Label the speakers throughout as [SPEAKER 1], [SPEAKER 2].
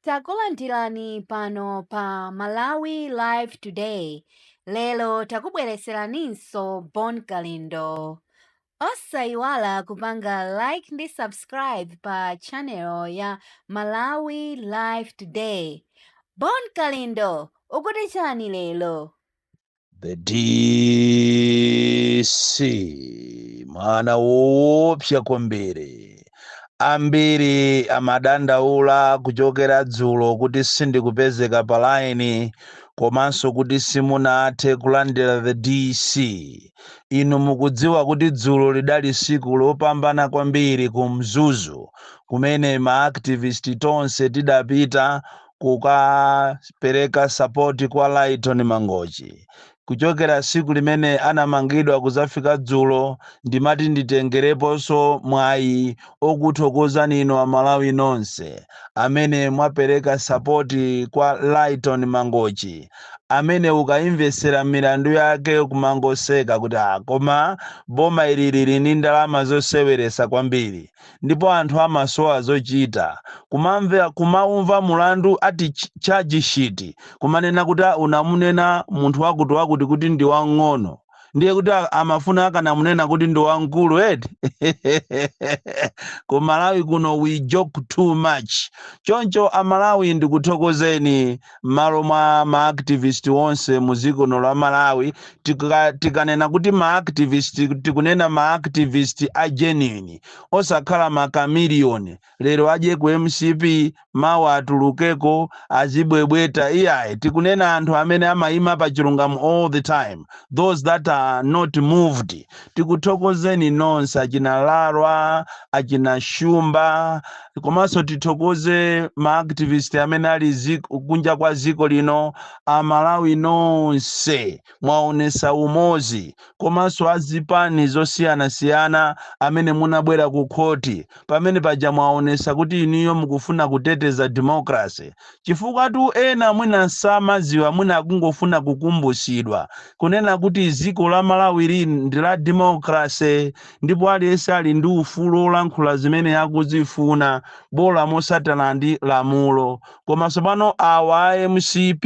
[SPEAKER 1] Takulandirani pano pa Malawi Live Today. Lero takubweretseraninso Bon Kalindo. Osayiwala kupanga like ndi subscribe pa channel ya Malawi Live Today. Bon Kalindo, ukuti chani lero? the
[SPEAKER 2] DC mwana woopsa kwambiri ambiri amadandaula kuchokera dzulo kuti sindikupezeka pa laini komanso kuti simunathe kulandira the DC inu mukudziwa kuti dzulo lidali siku lopambana kwambiri ku mzuzu kumene maaktivisti tonse tidapita kukapereka sapoti kwa Lyton Mangochi. Kuchokera tsiku limene anamangidwa kudzafika dzulo, ndimati nditengereponso mwayi okuthokozani inu Amalawi nonse amene mwapereka sapoti kwa Lyton Mangochi, amene ukaimvetsera milandu yake kumangoseka kuti ah, koma boma ili lili ndi ndalama zoseweretsa kwambiri. ndipo anthu amasowa zochita, kumamve, kumaumva mulandu ati ch charge sheet kumanena kuti a unamunena munthu wakuti wakuti kuti ndi wang'ono ndiye kuti a- amafuna akanamunena kuti ndi wamkulu eti ku malawi kuno we joke too much choncho amalawi ndikuthokozeni mmalo mwa ma activist onse mu dziko lino la Malawi tika, tikanena kuti ma activist tikunena ma activist a genuine osakhala ma chameleon lero adye ku mcp mawa atulukeko azibwebweta iyayi tikunena anthu amene amayima pa chilungamo all the time those that are not moved tikuthokozeni nonse achina larwa achina shumba komanso tithokoze maactivist amene ali ziko, kunja kwa ziko lino amalawi nonse mwaonesa umozi komanso azipani zosiyanasiyana amene munabwera ku khoti pamene paja mwaonesa kuti inuyo mukufuna kuteteza democracy Chifukwatu ena mwina samaziwa mwina akungofuna kukumbusidwa kunena kuti ziko la Malawi li ndi la democracy ndipo aliyense ali ndi ufulu olankhula zimene akuzifuna bola mosatana ndi lamulo koma sopano awa a mcp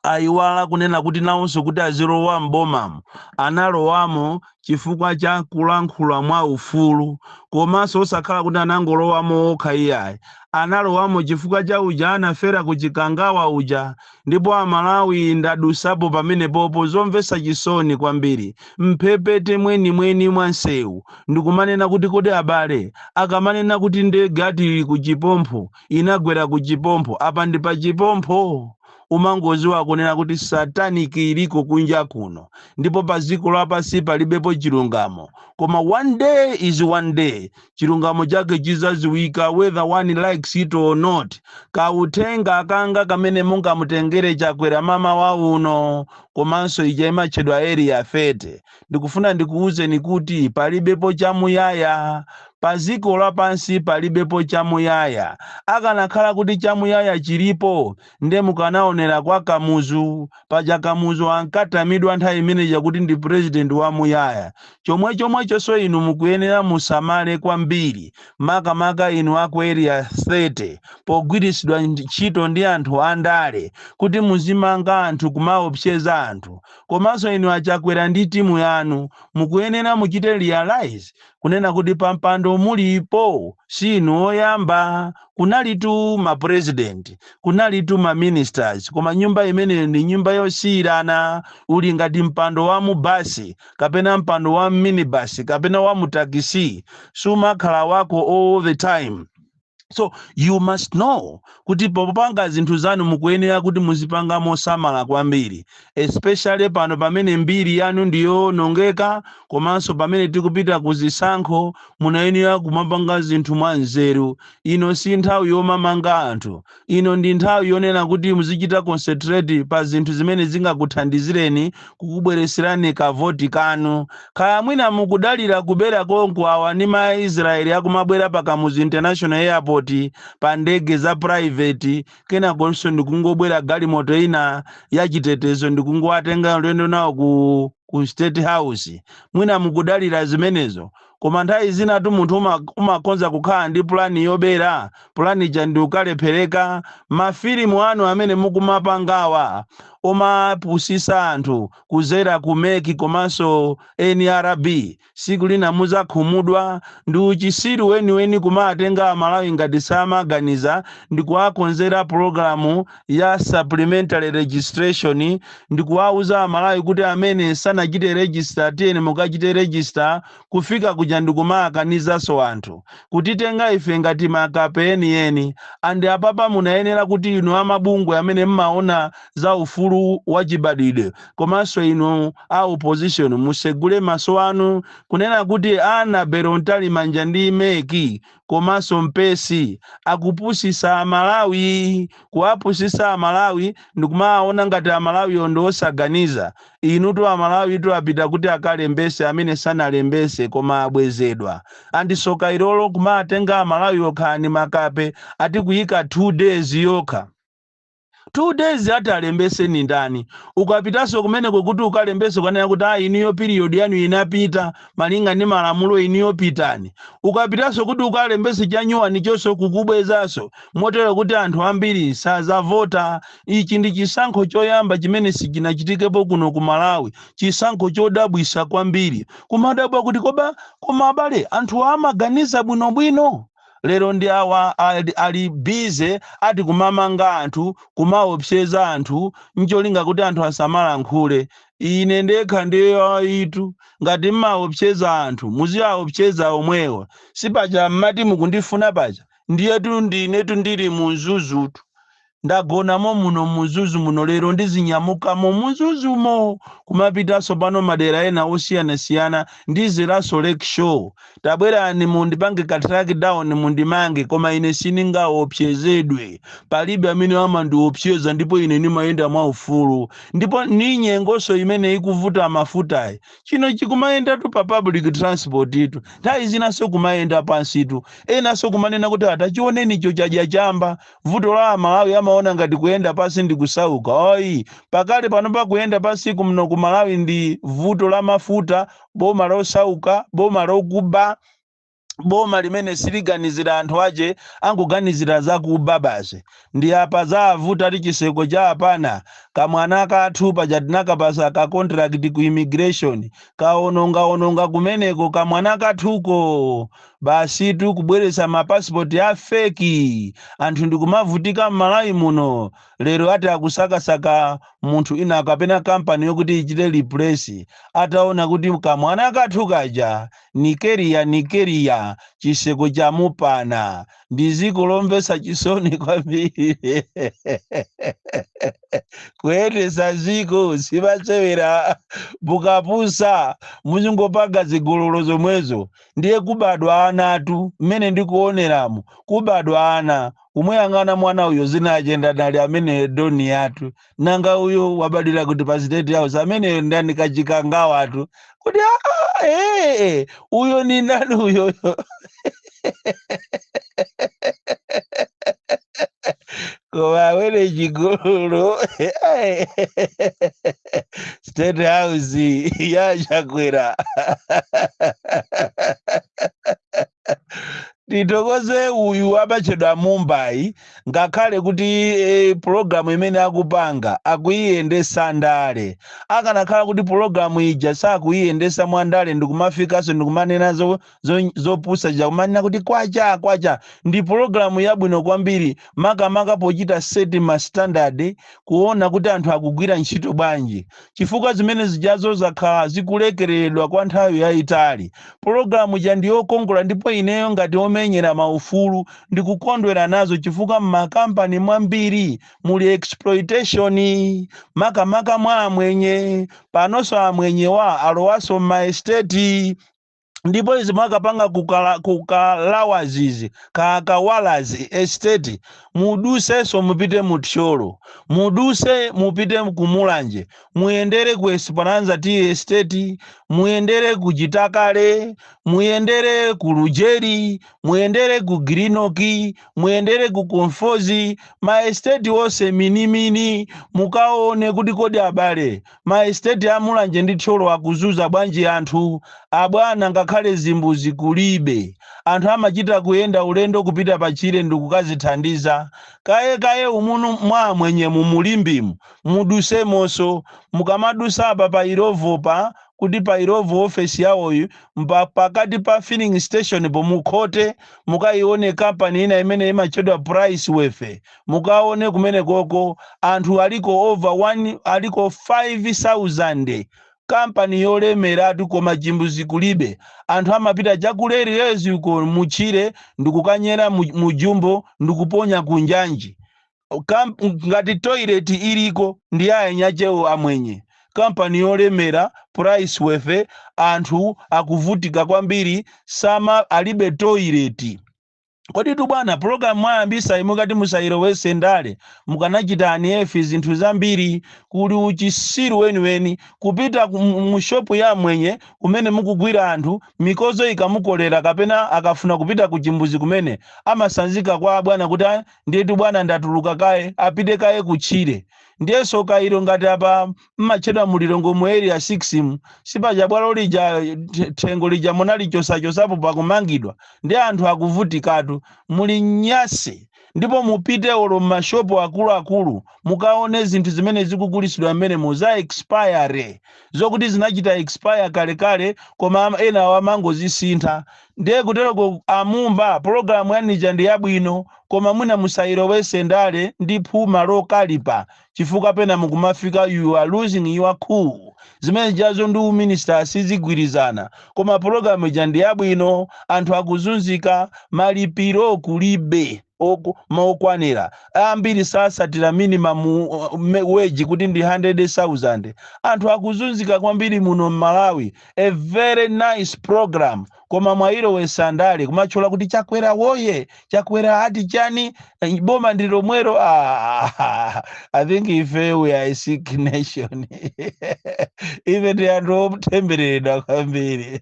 [SPEAKER 2] ayiwala kunena kuti nawonso kuti azilowa m'bomamo analowamo chifukwa cha kulankhula mwa ufulu komanso osakhala kuti anangolowamo okha iyayi analowamo chifukwa cha uja anafera ku chikangawa uja ndipo amalawi ndadusapo pamenepopo zomvetsa chisoni kwambiri mphepete mwenimweni mwa msewu ndikumanena kuti kodi abale akamanena kuti ndege ati ku chipompho inagwera ku chipompho apa ndi pa chipompho umangoziwa kunena kuti satanic iliko kunja kuno ndipo pa dziko lapansi palibepo chilungamo koma one day is one day chilungamo chake chizaziwika whether one likes it or not kauthenga kanga kamene mungamutengere chakwera mmawa uno komanso ija imatchedwa area 30 ndikufuna ndikuwuzeni kuti palibepo chamuyaya. Pa dziko lapansi palibepo chamuyaya. Akanakhala kuti chamuyaya chilipo, nde mukanaonera kwa Kamuzu. Paja Kamuzu ankatamidwa nthawi imene ija kuti ndi president wamuyaya. Chomwechomwechonso inu mukuyenera musamale kwambiri, makamaka inu a ku Area 30, pogwiritsidwa ntchito ndi anthu andale kuti muzimanga anthu, kumaopseza anthu. Komanso inu a Chakwera ndi timu yanu mukuyenera muchite realise kunena kuti pampando mulipo si inu oyamba. Kunalitu ma president, kunalitu ma ministers koma nyumba imene ndi nyumba yosiyirana. Uli ngati mpando wa mu bus kapena mpando wa m'minibus kapena wa mu taxi. Sumakhala wako all the time. so you must know kuti popanga zinthu zanu mukuyenera kuti muzipanga mosamala kwambiri especially pano pamene mbiri yanu ndiyowonongeka komanso pamene tikupita ku zisankho munayenera kumapanga zinthu mwa nzeru ino si nthawi yomamanga anthu Ino ndi nthawi yonena kuti muzichita concentrate pa zinthu zimene zingakuthandizireni kukubweretserani ka voti kanu. Kaya mwina mukudalira kubera konko awa ndi ma Israel akumabwera pa Kamuzu International Airport pa ndege za private kenakonso ndikungobwera galimoto ina ya chitetezo ndikungowatenga ulendo nawo ku state house. Mwina mukudalira zimenezo. Koma nthawi zinatu munthu umakhonza kukhala ndi pulani yobera, pulani ija ndiukalephereka. Mafilimu anu amene mukumapangawa omapusisa anthu kudzera ku mec komanso nrb siku lina muzakhumudwa. Ndiuchisiru weniweni kumatenga amalawi ngati samaganiza ndikuwakonzera pulogalamu ya supplementary registration ndikuwauza amalawi kuti amene sanachite register tiyeni mukachite register kufika kujaku ndikumakanizanso anthu kutitenga ife ngati makape enieni and apapa munayenera kuti inu amabungwe amene mmaona za ufulu wa chibadwidwe komanso inu a opposition musegule maso anu kunena kuti anaberana kale manja ndi MEC komanso MCP akupusisa amalawi kuwapusisa amalawi ndikumaona ngati amalawiwo ndi osaganiza inutu amalawitu apita kuti akalembese amene sanalembese koma abwezedwa and tsoka ilolo kumatenga amalawi okha ndi makape ati kuyika 2 days yokha two days ati alembese ni ndani ukapitaso kumeneko kuti ukalembese kukanena kuti ayi inuyo period yanu inapita malinga ndi malamulo inuyo pitani ukapitaso kuti ukalembese chanyuwani chonso kukubwezaso motero kuti anthu ambiri sazavota ichi ndi chisankho choyamba chimene sichinachitikepo kuno ku malawi chisankho chodabwisa kwambiri kumadabwa kuti koba koma abale anthuwa amaganiza bwinobwino lero ndi awa ali bize ati kumamanga anthu kumaopseza anthu ncholinga kuti anthu asamalankhule ine ndekha ndiye ayitu ngati mmaopseza anthu muziwaopseza omwewo sipaja mmati mukundifuna paja ndiyetu ndinetu ndili mu mzuzutu Ndagonamo muno mu Mzuzu muno lero ndizinyamukamo mu Mzuzumo kumapitanso pano madera ena osiyanasiyana ndizeranso Lakeshore. Tabwerani mundipange ka track down mundimange koma ine sindingaopsezedwe. Palibe amene amandiopseza ndipo ine ndimayenda mwaufulu. Ndipo ni nyengonso imene ikuvuta mafutayi. Chino chikumayendatu pa public transport tu. Nthawi zinanso kumayenda pansitu. Enanso kumanena kuti tachioneni icho chadya chamba. Vuto la amalawi amaona ngati kuyenda pasi ndi kusauka ayi pakali panopa kuyenda pasi kuno ku malawi ndi vuto la mafuta boma losauka boma lokuba boma limene siliganizira anthu ache akuganizira zakuba basi nde apa zawavuta ti chiseko chamupana kamwana kathu paja tinakapasa ka contract ku immigration kaonongaononga kumeneko kamwana kathuko basitu kubweretsa mapasipoti a feki anthu ndikumavutika m'malawi muno lero ati akusakasaka munthu wina kapena kampani yokuti ichite replace ataona kuti kamwana kathu kaja nigeria nigeria chiseko chamupana ndi dziko lomvetsa chisoni kwambiri kuyendetsa dziko simasewera mukapusa muzingopanga zigololo zomwezo ndiye kubadwa anatu mmene ndikuoneramu kubadwa ana kumuyang'ana mwana uyo dzina lache ndani ali ameneyo doni yathu nanga uyo wabadwira kuti pa state house ameneyo ndani kacikangawatu kuti "Ah, ah, eh, eh, uyo ni ndani uyoyo koma awere cigolo state house ya chakwera titokoze uyu amatchedwa Mumba ngakhale kuti eh, pulogalamu imene akupanga akuyiyendesa ndale akanakhala kuti pulogalamu ija sakuyiyendesa mwa ndale ndikumafikanso ndikumanenazo zo- zopusa zija kumanena kuti kwacha kwacha ndi pologalamu yabwino kwambiri makamaka pochita seti ma standard kuona kuti anthu akugwira ntchito bwanji chifukwa zimene zijazo zakhala zikulekereredwa kwa nthawi yayitali pologalamu ija ndi yokongola ndipo ineyo ngati omenyera maufulu ndikukondwera nazo chifukwa m'makampani mwambiri muli exploitation makamaka mwa amwenye panonso amwenyewa alowaso m'maesteti ndipo izi mwakapanga kukala- kukalawazi kukawalazi estate mudutsenso mupite mu thyolo mudutse mupite ku mulanje muyendere ku esperanza tea estate muyendere ku chitakale muyendere ku lujeri muyendere ku glenorchy muyendere ku conforzi ma estate onse minimini mukaone kuti kodi abale Ma estate a Mulanje ndi Thyolo akuzunza bwanji anthu? Abwana ngakhale zimbuzi kulibe. Anthu amachita kuyenda ulendo kupita pa tchire ndikukadzithandiza. Kaye kaye umomu mwa amwenyemu mu Limbemu, mudutsemonso. Mukamadutsa apa pa Illovopa kuti pa Illovo office yawoyi mpa pakati pa filling station po mukhote mukayione company ina imene imatchedwa Price Worthy. Mukaone kumenekoko anthu aliko over 1 aliko 5000 company yolemeratu koma chimbuzi kulibe. Anthu amapita cha ku Railways uko mutchire ndikukanyera mu mu jumbo ndikuponya ku njanji. Kamp ngati toilet iliko ndi ya anyakewo amwenye. Company yolemera price worthy anthu akuvutika kwambiri sama alibe toilet. Kodi tu bwana program mwayambitsayi mukati musayilowetse ndale mukanachita unearth zinthu zambiri kuli uchitsiru weniweni kupita ku- mu mu shop ya mwenye kumene mukugwira anthu mikodzo ikamukolera kapena akafuna kupita ku chimbuzi kumene amatsanzika kwa bwana kuti "Ah, ndiye tu bwana ndatuluka kaye apite kaye kutchire ndiyeso kairo ngati apa mmatchedwa mu lilongwe mu area 6 mu sipaja bwalo lija the- thengo lija munalichosachosapo pakumangidwa ndi anthu akuvutikatu muli nyasi ndipo mupite olo m'mashopo akuluakulu mukaone zinthu zimene zikugulisidwa mmenemo za expire zokuti zinachita expire kalekale koma ama- ena awo amangozisintha ndiye kuteroko a mumba pologalamu yanu ija ndi yabwino koma mwina musayilowese ndale ndi phuma lokalipa chifukwa pena mukumafika you are losing your cool zimene zijazo ndi uminister sizigwirizana koma program ija ndi yabwino anthu akuzunzika malipiro kulibe oku- mokwanira ambiri sasatira minimum uh, me- wage kuti ndi 100,000 anthu akuzunzika kwambiri muno m'malawi a very nice program koma mwailowesa ndale kumatchula kuti chakwera woye chakwera ati chani eh, boma ndi lomwero ah, i think ife we are a sick nation ife ndi anthu otembereredwa kwambiri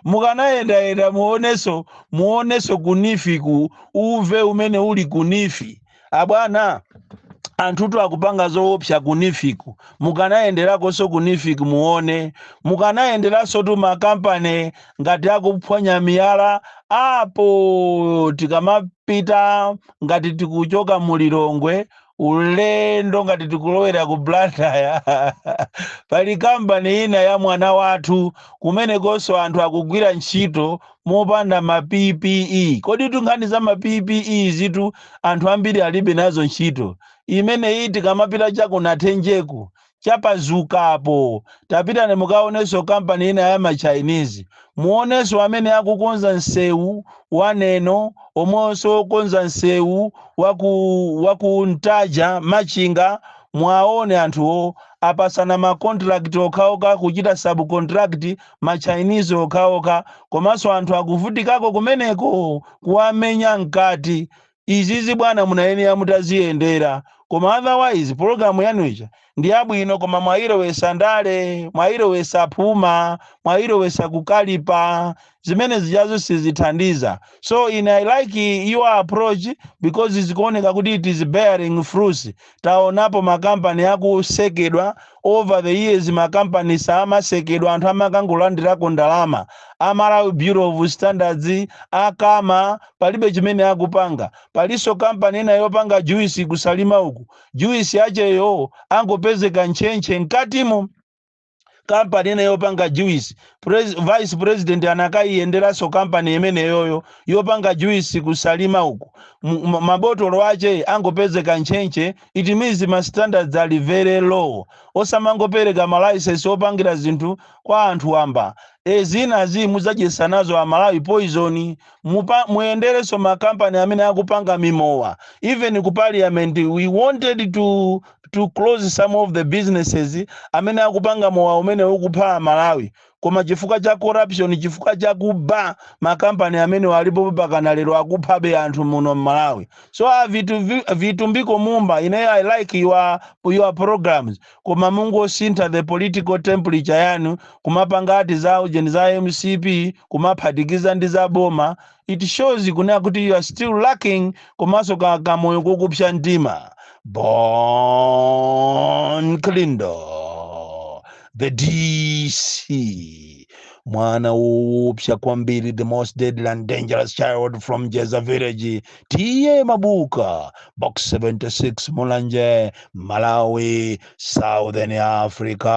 [SPEAKER 2] mukanayendayenda muoneso muoneso ku neef ku uve umene uli ku neef abwana anthutu akupanga zoopsa ku neef ku mukanayenderakonso ku neef ku muone mukanayenderansotu makampani ngati akuphwanya miyala apo tikamapita ngati tikuchoka mu lilongwe ulendo ngati tikulowera ku blantyre pali kampani ina ya mwana wathu kumenekonso anthu akugwira ntchito mopanda ma PPE. Koditu nkhani za ma PPE izitu anthu ambiri alibe nazo ntchito. Imeneyi tikamapita cha ku Nathenjeku, cha Pazuka apo, tapitani mukaonenso kampani ina ya ma Chinese. Muonenso amene akukonza msewu wa Neno, omwenso okonza msewu wa ku wa ku Ntaja, Machinga, muwaone anthuwo apasana ma contract okhaokha kuchita sub-contract ma Chinese okhaokha komanso anthu akuvutikako kumeneko kuwamenya mkati. Izizi bwana munayenera mutaziyendera koma otherwise program yanu ija ndiyabwino koma mwayilowesa ndale, mwayilowesa phuma, mwayilowesa kukalipa zimene zijazo sizithandiza so ine I like your approach because zikuoneka kuti it is bearing fruits taonapo ma company akusekedwa over the years ma company samasekedwa anthu amakangolandirako ndalama a Malawi Bureau of Standards a kama palibe chimene akupanga paliso company ina yopanga juice ku Salima uku juice yacheyo angopezeka ntchentche mkatimo kampani ina yopanga juice vice president anakayiyenderanso kampani imeneyoyo yopanga juice ku Salima uku mabotolo ache angopezeka ntchentche it means ma standards are very low osamangopereka malayisensi opangira zinthu kwa anthu wamba e zinazi mudzadyesa nazo amalawi poison muyenderenso makampani amene akupanga mimowa even ku parliament we wanted to to close some of the businesses amene akupanga mowa umene ukupha amalawi koma chifukwa cha corruption chifukwa cha kuba makampani amenewa alipo pakana lero akuphabe anthu muno mmalawi so a vitu vi- vitumbiko mumba ine i like your, your programs koma mungosintha the political temperature yanu kumapanga ati za ujeni za mcp kumaphatikiza ndi za boma it shows kunena kuti you are still lacking komanso ka kamoyo kokupsa mtima bon kalindo the dc mwana woopsa kwambiri the most deadly and dangerous child from jeza village T.A. mabuka box 76 mulanje malawi southern africa